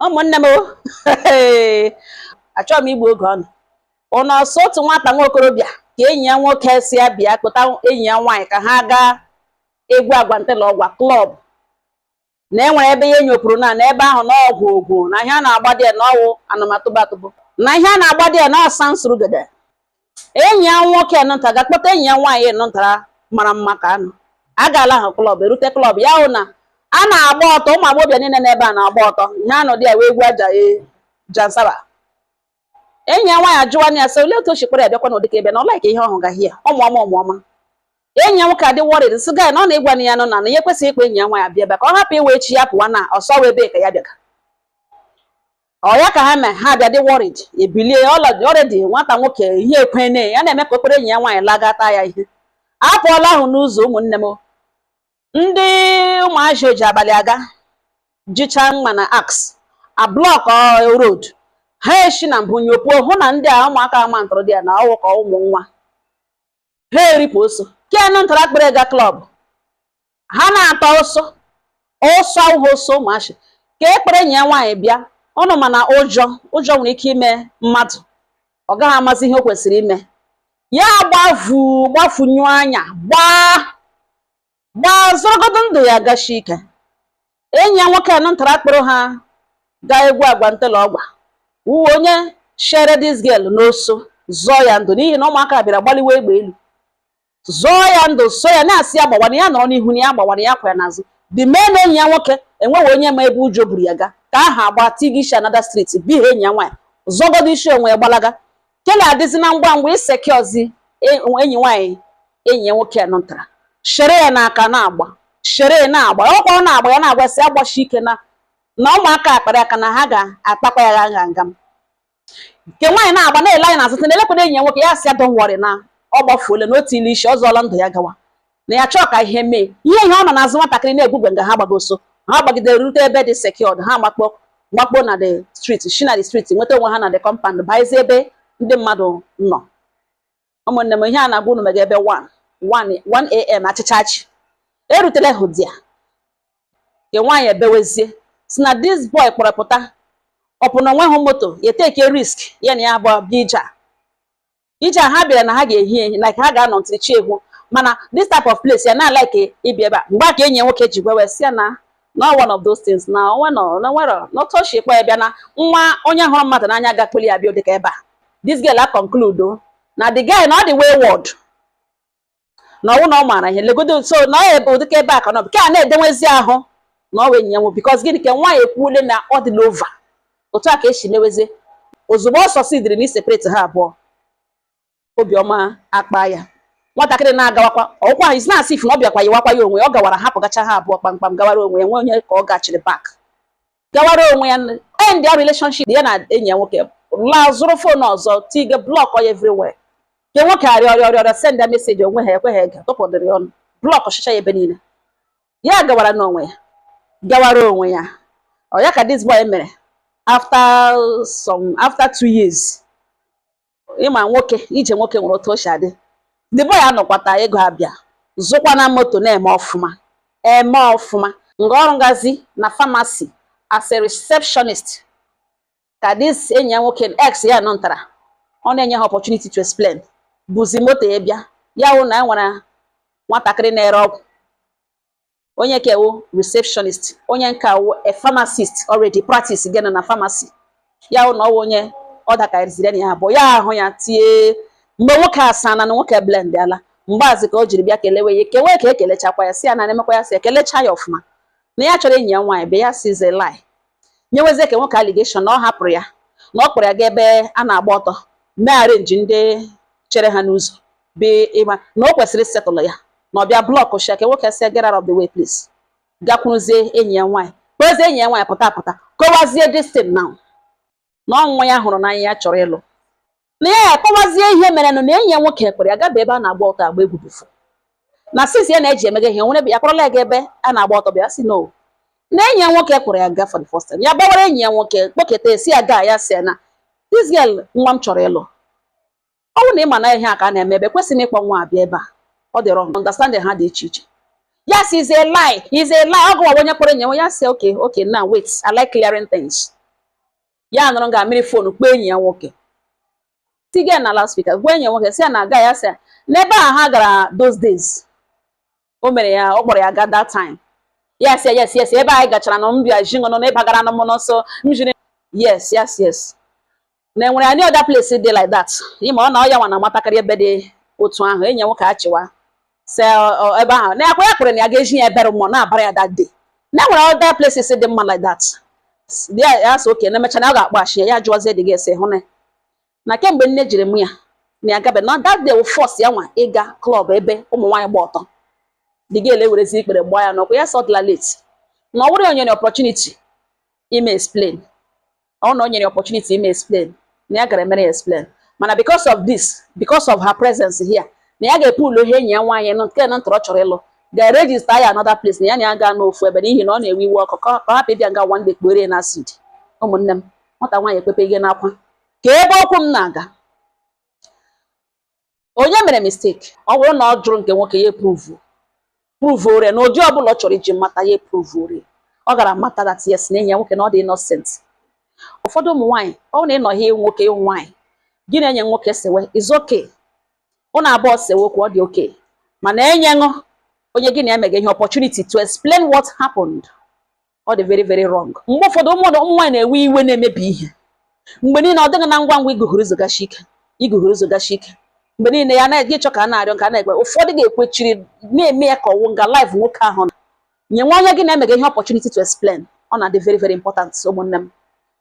ụmụnne m achọghị m igbu oge ọnụ ụnụ ọsọ otu nwata nwa okorobịa ka enyi ya nwoke sị ya bịa kpọta enyi ya nwaanyị ka ha gaa egwu agwante na ọgwa klọb na e nwere ebe ya nyopuru na n'ebe ahụ na ọ wụ egwu na ihe a na-agba dị ya na ọ wụ anụmatụbatụbụ na ihe a na-agba dị ya na ọsa nsurugede enyi ya nwoke nụnta gaa kpọta enyi ya nwaanyị nụntara mara mma ka anụ a gaala ha klọb erute klọb ya hụ na a na-agba ọtọ ụmụ agbọghọbịa niile n'ebe a na-agba ọtọ ihe anọ dị ya wee egwu aja ee jansaba enyi ya nwaanyị ajụwa ya sị olee otu o si kpọrọ ya bịakwa n'ụdị ka ebe na ọ laik ihe ọ hụga hie ọmụọma ọmụọma enyi ya nwoke adị worried sị gaa na ọ na-agwa na ya nọ na na ya ekwesịghị ịkpọ enyi ya nwaanyị abịa ebe a ka ọ hapụ iwe echi ya pụwa na ọsọ wee ebe ka ya bịaga ọ ya ka ha mee ha bịa dị worried ebilie already nwata nwoke ihe ekwene ya na-eme ka o kpere enyi ya nwaanyị lagata ya ihe apụọla ahụ n'ụzọ ụmụnne m ndị ụmụazị oji abalị aga jicha mma na axe a block road ha eshi na mbụ nyopuo hụ na ndị a ụmụaka ama ntụrụ dị ya na ọ wụ ka ụmụ nwa ha eripụ ọsọ kenu ntara kpere ga klọb ha na-ata ọsọ ọsọ awụghị ọsọ ụmụazị ka e kpere enyi nwaanyị bịa ọnụ mana ụjọ ụjọ nwere ike ime mmadụ ọ gaghị amazi ihe o kwesịrị ime ya gbavu gbafunyụ anya gbaa gbaa zọrọgodu ndụ ya gashi ike enyi ya nwoke anụ ntara kpọrọ ha gaa egwu agwa ntela ọgwa wụ onye shere this girl n'ọsọ zọọ ya ndụ n'ihi na ụmụaka bịara gbaliwe egbe elu zọọ ya ndụ so ya na-asị ya gbawa na ya nọrọ n'ihu na ya gbawa na ya kwụ ya n'azụ dị mee na enyi ya nwoke enweghị onye ma ebe ụjọ buru ya ga ka aha agba tiga isi another street bihe enyi ya nwaanyị zọgodo isi onwe ya gbalaga kele adịzi na ngwa ngwa iseke ọzi e, enyi nwaanyị enyi ya nwoke nụtara shere ya n'aka na-agba shere na-agba ọkwa ọ na-agba ya na-agwa sị ya gbashi ike na na ụmụaka a kpara aka na ha ga-akpakwa ya gha nga m nke nwaanyị na-agba na-ele anya n'azụ na-elekwado enyi ya nwoke ya sị ya don't worry na ọ gbafuole na otu ile isi ọ zọọla ndụ ya gawa na ya chọọ ka ihe mee ihe ihe ọ nọ n'azụ nwatakịrị na-egwugwe nga ha gbaga ọsọ ha gbagidere rute ebe dị secured ha makpo makpo na the street shi na the street nweta onwe ha na the compound bazie ebe ndị mmadụ nọ ụmụnne m ihe a na-agwa unu mega ebe 1am achịcha achị erutela hụ di ya nke nwaanyị ebewezie sị na this boy kpọrọ pụta ọ pụ na o nweghị moto ya a take risk ya na ya abụọ bịa ije a ije a ha bịara na ha ga-ehi ehi like ha ga-anọ until chi ehwo mana this type of place ya na like ịbịa ebe a mgbe a ka enyi ya nwoke ji gwewe sị ya na no one of those things na onwe nọ na nwere otu o shi kpọ ya bịa na nwa onye hụrụ mmadụ n'anya ga-akpọli ya bịa dịka ebe a this girl a conclude o na the guy na ọ dị wayward na ọwụ na ọ maara ihe legodo so na ọ ebe ụdịka ebe a ka nọbụ ka a na-edenwezi ahụ na ọ wụ enyi ya nwoke bikọs gịnị ka nwaanyị ekwuole na ọ dịla ova otu a ka esi mewezie ozugbo ọ sọsidiri na isepareti ha abụọ obiọma akpa ya nwatakịrị na-agawakwa ọkwa ha na-asị if na ọ bịakwa yiwakwa ya onwe ya ọ gawara hapụ gacha ha abụọ kpamkpam gawara onwe ya nwe onye ka ọ gachiri bak gawara onwe ya end ya relationship ya na enyi ya nwoke laa zụrụ fon ọzọ tiga blọk ya everywhere nke nwoke arịọ arịọ arịọ send ya meseji onwe ha ekweghị ege tụpụdịrị ọnụ blọkchichaa ya ebe niile ya gawara n'onwe ya gawara onwe ya ọ ya ka this boy mere after some after two years ịma nwoke ije nwoke nwere otu o si adị the boy anọkwata ego abịa zụkwa na moto na-eme ọfụma eme ọfụma nga ọ rụgazi na famasi as a receptionist ka dis enyi ya nwoke ex ya nọ ntara ọ na-enye ha opportunity to explain buzi moto ya bịa ya hụ na e nwere nwatakịrị na-ere ọgwụ onye nka wụ receptionist onye nka wụ a pharmacist already practicega na pharmacy ya hụ na ọwụ onye ọ dakariziri na ya abụọ ya ahụ ya tie mgbe nwoke asaana nwoke blendiala mgbe ahụzi ka o jiri bịa kelewe ya kewe ka ekelechakwa ya si ya na emekwa ya si ekelecha ya ọfụma na ya chọrọ enyi ya nwaanyị be ya sizie lie nyewezie nke nwoke aligeshọn na ọ hapụrụ ya na ọ kpọrọ ya ga ebe a na-agba ọtọ mee arenji ndị chere ha n'ụzọ bụ ịma na o kwesịrị setụlụ ya na ọ bịa blọkụchie ya nke nwoke sị ya get out of the way please gakwuruzie enyi ya nwaanyị kpọzie enyi ya nwaanyị pụta pụta kọwazie this thing now na ọ nwa ya hụrụ n'anya ya chọrọ ịlụ na ya akọwazie ihe mere na enyi ya nwoke kpọrọ ya gaba ebe a na-agba ọtọ agba egwu bifo na since ya na-eji emega ihe nwere ya kpọrọla ya ga ebe a na-agba ọtọ bịa sị no na enyi ya nwoke kpọrọ ya gaa for the first time ya gbawara enyi ya nwoke kpọketa esi ya gaa ya sị ya na this girl nwa m chọrọ ịlụ ọ bụrụ na ị ma na ihe a ka a na-eme ebe kwesịrị ịkpọ nwa a bịa ebe a ọ dị wrong understanding ha dị iche iche ya sị is a lie is a lie ọ gụwa onye kpọrọ enyi ya sị okay okay now wait I like clearing things ya nọrọ nga mịrị fonu kpọọ enyi ya nwoke tiga na loudspeaker gwa enyi ya nwoke sị ya na aga ya sị ya na ebe a ha gara those days o mere ya ọ kpọrọ ya ga that time yes yes yes ebe anyị gachara na mbịa ji ṅụnụ na ị bagara na mmụọ nsọ m jiri yes yes yes na enwere any other place dị like that ịma ọ na ọ ya nwa na amatakịrị ebe dị otu ahụ enyi nwoke achịwa sị ebe ahụ na ọkwa ya kwere na ya ga-eji ya ebere mmụọ na-abara ya that day na enwere other places dị mma like that ya sị oke na emecha na ọ ga-akpọghachi ya ya jụọzie the girl sị ị hụna na kemgbe nne jiri mụọ ya na ya gabe na that day wụ first ya nwa ịga club ebe ụmụ nwaanyị gba ọtọ the girl ewerezi ikpere gbaa ya n'ụkwụ ya sị ọ dịla late na ọ wụrụ ya o nyere opportunity ime explain ọ na o nyere opportunity ime explain na ya gara emere ya explain mana because of this because of her presence here na ya ga-epu ụlọ ihe enyi ya nwaanyị nọ nke na ntọrọ chọrọ ịlụ ga-eregister ya another place na ya na ya gaa n'ofu ebe n'ihi na ọ na-ewe iwe ọkụ ka ọ hapụ ịbịa nga one day kpere na acid ụmụnne m nwata nwaanyị ekpepe ihe n'akwa ka ebe okwu m na-aga onye mere mistake ọ bụrụ na ọ jụrụ nke nwoke ya eprove prove ore na ụdị ọbụla ọ chọrọ iji mata ya eprove ore ọ gara mata that yes na enyi ya nwoke na ọ dị innocent ụfọdụ ụmụ nwaanyị ọ bụrụ na ị nọ ị wụ nwoke ị wụ nwaanyị gị na enyi nwoke sewe it's okay ụnụ abụọ sewe okwu ọ dị okay mana nyenụ onye gị na ya mega ihe opportunity to explain what happened ọ dị very very wrong mgbe ụfọdụ ụmụ nwaanyị na-ewe iwe na-emebi ihe mgbe niile ọ dịghị na ngwa ngwa iguhuru zogachi ike iguhuru zogachi ike mgbe niile ya na-eji ịchọ ka a na-arịọ ka a na-ekwe ụfọdụ ga-ekwechiri na-eme ya ka ọ wụ nga life nwoke ahụ nọ nye nwa onye gị na-emega ihe opportunity to explain ọ na-adị very very important ụmụnne m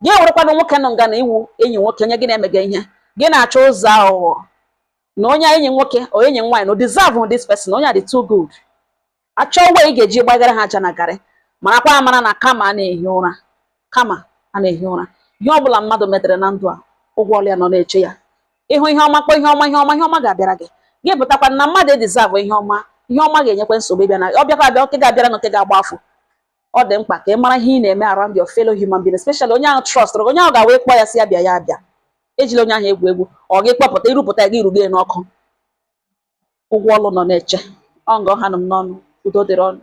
gị ewerekwana nwoke nọ nga na ị wụ enyi nwoke onye gị na-emega ihe gị na-achọ ụzọ aghụghọ na onye enyi nwoke onye enyi nwaanyị no deserve this person onye a dị too good achọwa ị ga-eji gbagara ha aja na garị marakwa amara na karma anaghị ehi ụra karma anaghị ehi ụra ihe ọ bụla mmadụ metere na ndụ a ụgwọ ọrụ ya nọ na-eche ya ị hụ ihe ọma kpọọ ihe ọma ihe ọma ihe ọma ga-abịara gị gị pụtakwa na mmadụ edeserve ihe ọma ihe ọma ga-enyekwa nsogbu ịbịa na ọ bịakwa abịa oke ga-abịara na oke ga-agba afọ ọ dị mkpa ka ị mara ihe ị na-eme around your fellow human being especially onye ahụ trust gị onye ahụ ga-awụ ị kpọọ ya sị ya bịa ya abịa ejila onye ahụ egwu egwu ọ gị kpọpụta irupụta ya gị rugo ya n'ọkụ ụgwọ ọrụ nọ na-eche. Ọ nga ọ ha nụ m n'ọnụ, udo dịrị ụnụ.